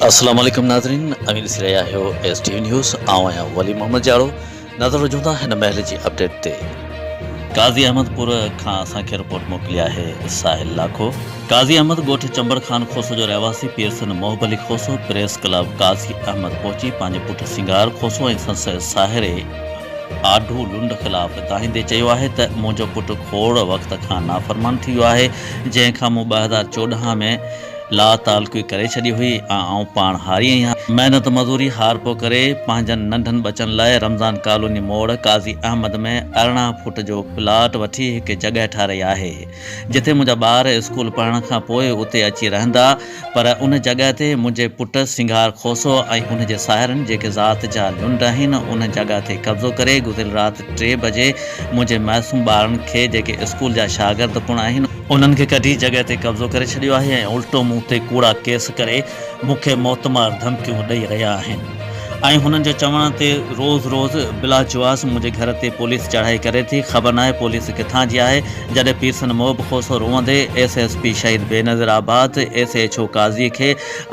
السلام عليڪم ناظرين امير سري آهيو ايس ٽي وي نيوز آئون آهيان ولي محمد جاڙو نظر هجون ٿا هن مهل جي اپڊيٽ تي. قاضي احمد پور کان اسان کي رپورٽ موڪلي آهي ساحل لاکو. قاضي احمد ڳوٺ چمبڙ خان کوسو جو رهواسي پير سن محب علي کوسو پريس ڪلب قاضي احمد پهچي پنهنجي پٽ سنگار کوسو ۽ سندس ساهري آڍو لنڊ خلاف دانهيندي چيو آهي ته منهنجو پٽ کوڙ وقت کان نافرمان ٿي ويو آهي جنهن کان مون ٻه هزار چوڏهن ۾ لا تعلقي ڪري ڇڏي هئي ۽ آئون پاڻ هاري آهيان. محنت مزوري هار پو ڪري پنهنجن ننڍن ٻچن لاء رمضان ڪالوني موڙ قاضي احمد ۾ ارڙهن فوٽ جو پلاٽ وٺي هڪ جڳهه ٺارهي آهي جتي منهنجا ٻار اسڪول پڙهڻ کان پوء اتي اچي رهندا پر ان جڳهه تي منهنجي پٽ سنگهار کوسو ۽ ان جي ساهرن جيڪي ذات جا لنڊ آهن ان جڳهه تي قبضو ڪري گذريل رات ٽي بجي منهنجي معصوم ٻارن کي جيڪي اسڪول جا شاگرد پڻ آهن انهن کي ڪڍي جڳهه تي قبضو ڪري ڇڏيو آهي ۽ الٽو مون تي ڪوڙا ڪيس ڪري مون کي موتمار ڌمڪيون ڏئي رهيا آهن ۽ هنن جي چوڻ تي روز روز بلاجواز منهنجي گهر تي پوليس چڙهائي ڪري ٿي خبر ناهي پوليس ڪٿان جي آهي جڏهن پيرسن محب کوسو روئندي S S P Shaheed Benazirabad S H O Qazi کي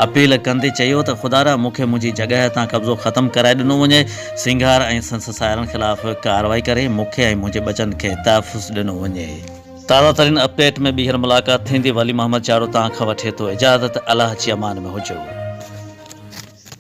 اپيل ڪندي چيو ته خدارا مون کي منهنجي جڳهه تان قبضو ختم ڪرائي ڏنو وڃي سنگهار ۽ سندس ساهرن خلاف ڪارروائي ڪري مون کي ۽ منهنجي ٻچن کي تحفظ ڏنو وڃي. تازه ترين اپ ڊيٽ ۾ ٻيهر ملاقات ٿيندي ولي محمد چاڙهو تان کان وٺي ٿو اجازت الله جي امان ۾ هجو.